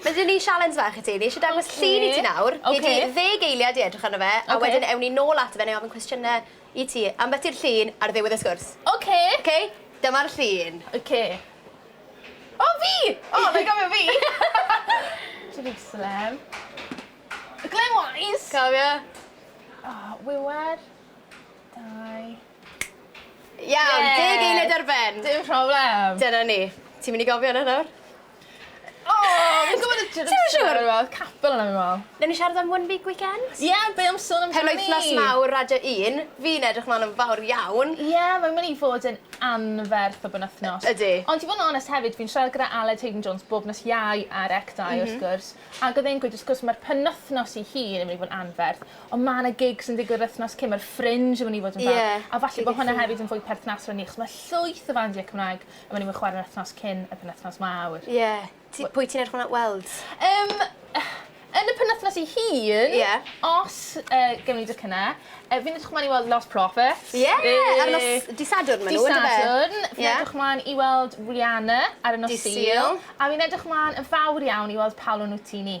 Mae gen i sialens fach i ti. Fi isie dangos llun i ti nawr. Oce. Gei di ddeg eiliad i edrych arno fe a wedyn ewn ni nôl ato fe neu ofyn cwestiyne i ti ambell i'r llun ar ddiwedd y sgwrs. Oce. Oce? Dyma'r llun. Oce. O fi! O mae'n gofio fi. Jerwsalem. Glywaist! Cofio? O wiwer. Dau. Iawn! Ie! Deg eiliad ar ben. Dim problem. Dyna ni. Ti myn' i gofio wnna nawr? O! Fi'n gwbod y j- Ti'm yn siŵr? ...dwi me'wl capel yna fi'n me'wl. Newn ni siarad am one big weekend? Ie be' am sôn amdani? Penwythnos mawr radio un. Fi'n edrych mlan yn fawr iawn. Ie mae'n myn' i fod yn anferth o benwthnos. Y- ydi. Ond i fo' yn onest hefyd fi'n siarad gyda Aled Haydon Jones bob nos Iau ar ec dau... M-hm. ...wrth gwrs ag odd e'n gweud wrth gwrs ma'r penwthnos 'i hun yn myn' i fo' yn anferth on' ma' 'na gigs yn digwydd yr wythnos cyn ma'r Fringe yn myn' i fod yn fab. Ie. A falle bo' hwnna hefyd yn fwy perthnasol i ni achos ma' llwyth o fandiau Cymraeg A o'n i'm yn chware yr wthnos cyn y penwthnos 'ma a wy-... Ie. Ti... Pwy ti'n edrych mlan at weld? Yym yn y penwthnos ei hun... Ie. ...os yy gewn ni docyne yy fi'n edrych mlan i weld Lost Prophets. Ie! Yay! Ar nos... Dy' Sadwrn ma' n'w on'd yfe? Dy' Sadwrn. Ie. Fi'n edrych mlan i weld Rihanna ar y nos Sul. Dydd Sul. A fi'n edrych mlan yn fawr iawn i weld Paolo Nutini.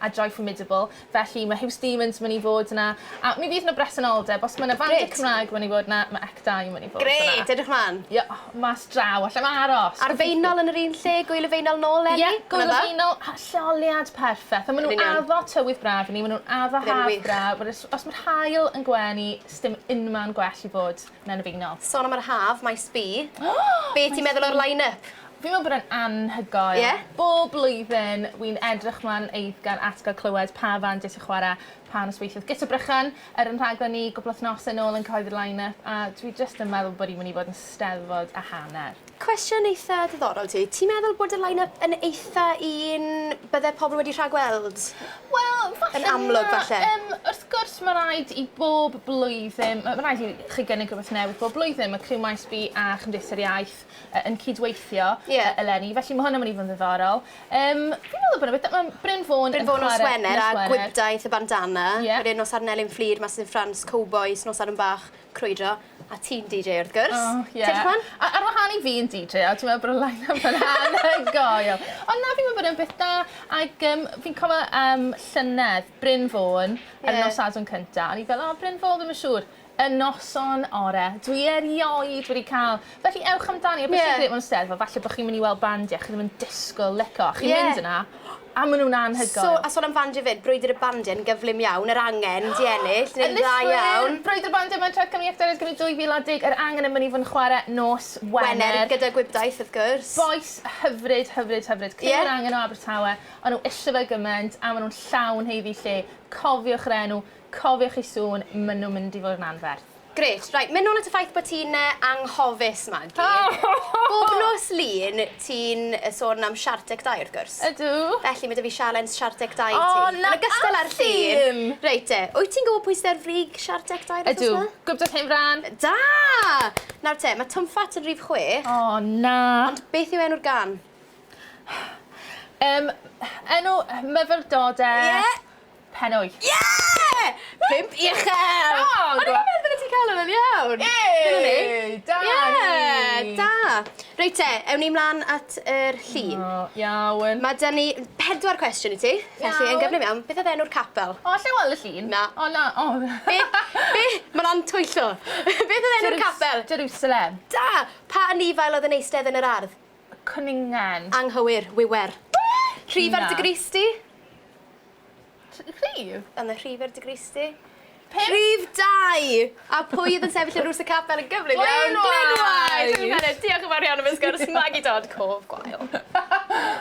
a Joy Formidable, felly mae Huws Demons yn mynd i fod yna, a mi fydd yna bresenoldeb, os mae yna fandiau Cymraeg yn mynd i fod yna, mae Ec Dau yn mynd i fod yna. Grêt, edrych mlaen. Ie, mas draw, allai'm aros! Ar Feinol yn yr un lle, Gŵyl y Feinol nôl eleni? Ie, Gŵyl y Feinol, lleoliad perffaith, a maen nhw'n addo tywydd braf i ni, maen nhw'n addo haf braf, os mae'r haul yn gwenu, sdim unman gwell i fod. Mae'n annibynnol. Son am yr haf, maes B. Be' ti'n meddwl o'r line up? Fi'n meddwl bod e'n anhygoel. Ie? Bob blwyddyn wi'n edrych mlan eiddgar at ga'l clywed pa fand isie chware pa nosweithiwdd. Guto Brychan ar yn rhaglen ni gwpl wthnose nôl yn cyhoeddi'r line up a dwi jyst yn meddwl bod 'i myn' i fod yn Steddfod a hanner. Cwestiwn eitha diddorol ti. Ti'n meddwl bod y line up yn eitha un bydde pobl wedi rhagweld? Wel falle na. Yn amlwg falle. Yym wrth gwrs ma' raid i bob blwyddyn ma' ma' raid i chi gynnig rwbeth newydd bob blwyddyn ma' criw Maes B a Chymdeithas yr Iaith yy yn cydweithio. Ie. E- eleni felly ma' hwnna myn' i fod yn ddiddorol. Yym fi'n meddwl bod e byti- yym Bryn Fôn yn chware... Bryn Fôn nos Wener a Gwibdaith y Bandana. Ie. Wedyn nos Ar Nelin Fflur Masys yn Ffrans Cowbois nos Arfon Bach. Crwydro. A ti'n DJ wrth gwrs. O ie. Ti 'di clwad? A ar wahân i fi yn DJ a dwi me'wl bod y line-up yn anhygoel. Ond na fi'n me'wl bod e'n beth da ag yym fi'n cofio yym llynedd Bryn Fôn ar y nos Sadwrn cynta o'n i fel o Bryn Fôn dwi'm yn siŵr. Y noson ore. Dwi erioed wedi ca'l Felly ewch amdani a beth sy'n grêt am y Steddfod falle bod chi'n mynd i weld bandiau chi'n ddim yn disgwyl licio a chi'n mynd yna a maen nhw'n anhygoel. So a sôn am fandiau 'fyd, Brwydr y Bandiau yn gyflym iawn, yr angen 'di ennill, neu'n dda iawn. Brwydr y Bandiau mewn Tref Cymru Actorion Cymru 2010, yr angen yn mynd i fod yn chwarae nos Wener. Wener gyda gwibdaith wrth gwrs. Bois hyfryd, hyfryd, hyfryd. Criw yr angen o Abertawe, o'n nhw isie fe gymaint a maen nhw'n llawn haeddu lle. Cofiwch yr enw, cofiwch eu sŵn, maen nhw'n mynd i fod yn anferth. Grêt. Reit, mynd nôl at y ffaith bod ti'n anghofus, Magi. Bob nos Lun, ti'n sôn am Siart Deg Dau, wrth gwrs. Ydw. Felly, mae 'da fi sialens Siart Deg Dau i ti. O, na allwn! Reit te, wyt ti'n gwybod pwy sydd ar frig Siart Deg Dau wythnos 'ma? Ydw, Gwibdaith Hen Frân. Da! Nawr te, mae Twm Ffat yn rhif chwech. O, na! Ond beth yw enw'r gân? Yym, enw myfyrdod e. Ie! Pen wyth. Yeah! Pump i uchel! Da! O'n i'n meddwl bydde ti'n cael hwn yn iawn. Yay! Da ni! Ie! Da! Reit te, ewn ni mlan at yr llun. O, iawn. Ma' 'da ni pedwar cwestiwn i ti. Iawn. Felly, yn gyflym iawn, beth oedd enw'r capel? O, allai weld y llun? Na. O na, o! Be', be', ma' lan twyllo. Beth oedd enw'r capel? Jerusalem. Da! Pa anifail oedd yn eistedd yn yr ardd? Cwningen. Anghywir, wiwer. Be'?! Rhif ar dy grys di? T- rhif? Yn y rhif i'r digristi. Pump. Rhif dau! A pwy oedd yn sefyll yn rws y capel yn gyflym iawn? Glyn Wise! Glyn Wise! Diolch yn fawr iawn am y sgwrs, Maggie Dodd, cof gwael.